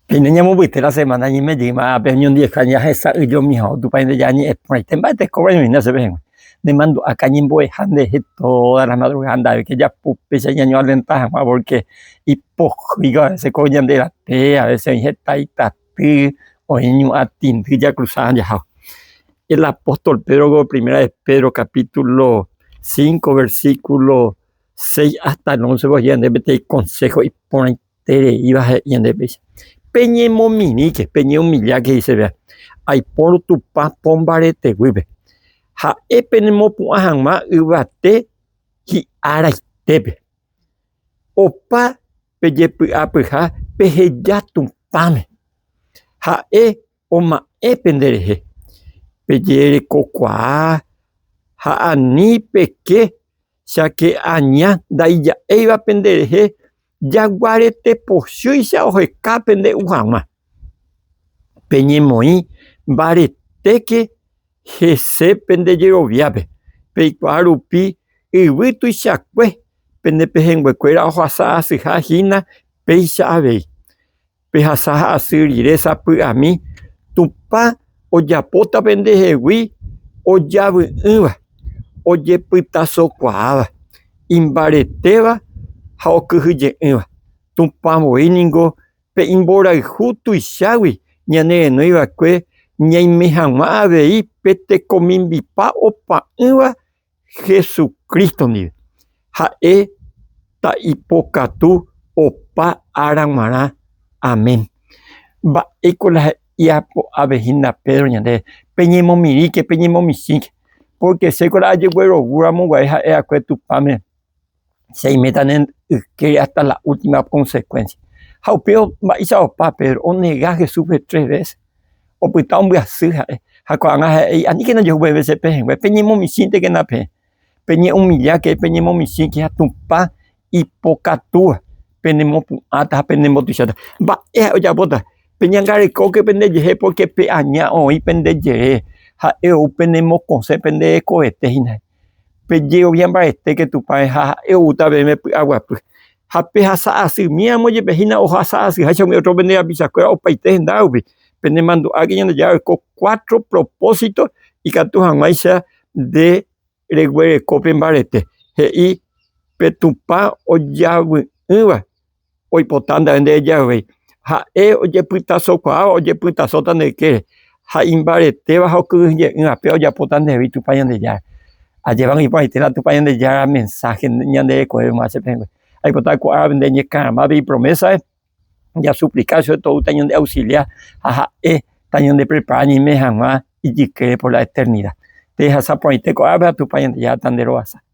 Peine ñamomba'yete la semana ñeme jeýma ápe oñondiveha ñahesa'ỹjomi ha otupãinte ñañe'ẽ porãite mba'e tekóvare oñohína chéve hag̃ua. Nemandu'áka ñembo'eha nderehe todas las madrugadas nda'éke japu péicha ñañoalenta hag̃ua porque ipohýiva a veces ko ñande rape, a veces oĩ heta itaty, oĩ ñu'ã tindy jakruza ha jaháva. El apóstol Pedro ko primera de Pedro capítulo cinco versículo seis hasta el once oje'e ñande peteĩ consejo iporãite. tereíva he'i ñande péicha, Peñemomirĩke, peñeumilláke icheve, aipórõ Tupã pombareteguýpe, ha'e penemopu'ã hag̃ua yvate hi'araitépe. Opa pejepy'apyha peheja Tupãme, ha'e oma'ẽ penderehe pejerekokuaa ha ani peke cháke aña ndaija'éiva penderehe. Jaguarete pochýicha oheka pende u hag̃ua. Peñemoĩ mbaretéke hese pende jeroviápe, peikuaa rupi yvy tuichakue pende pehẽnguekuéra ohasa asyha hína péicha avei. Pehasa ha asy rire sapy'ami Tupã ojapóta pendehegui ojavy'ỹva, ojepytasokuaáva, imbaretéva ha okyhyje'ỹva. Tupã voi ningo pe imborayhu tuichágui ñane renói va'ekue ñaime hag̃ua avei pe tekomimbipa opa'ỹva Jesucristo ndive. Ha'e ta ipokatu opa ára guarã. Amén. Mba'éiko la japo'ave hína Pedro ñandéve? Peñemomirĩke, peñemomichĩke, pórke chéko la ajeguerovu ramo guare ha'e'akue Tupãme. che iméta ne yke hasta la última consecuencia. Ha upéva mba'éicha opa Pedro, onega Jesúspe tres veces, opyta ombyasy ha'e, ha ko'ág̃a ha'e he'i, Aníkena jehu peve che pehẽngue, peñemomichĩntekena peẽ, peñe'umilláke, peñemomichĩke ha Tupã ipokatúva penemopu'ãta ha penembotuicháta. Mba'e ha'e ojapóta? Peñangarekóke pendejehe pórke pe aña oĩ pende jere, ha'e ou penemokosẽ pende hekovetéhina. Pe jehovia mbaetéke Tupãme ha ha'e oúta peẽme py'aguapy. Ha pehasa asy míamo jepe hína ohasa asyháicha umi ótro pende rapichakuéra opaite henda rupi. Penemandu'áke Ñandejára oiko kuátro propósito ikatu hag̃uáicha nde reguereko pe mbarete, he'i pe Tupã ojavy'ỹva. oipota ndave nde jave, ha'e ojepytasokuaáva ojepytasóta nde kére, ha imbaretéva ha okyhyje'ỹ ape ojapóta nde rréve Tupã Ñandejára. Ajévagui iporãite la Tupã Ñandejára mensáhe ñande rekovépe mayma che pehẽngue. Aipota ko árape nde ñekarãmápe ipromésape jasuplikár che oipotague tañandeausilia ha ha'e tañandeprepara ñaime hag̃ua ijykére por la eternida. Pehasa porãite ko árape ha Tupã Ñandejára tanderovasa.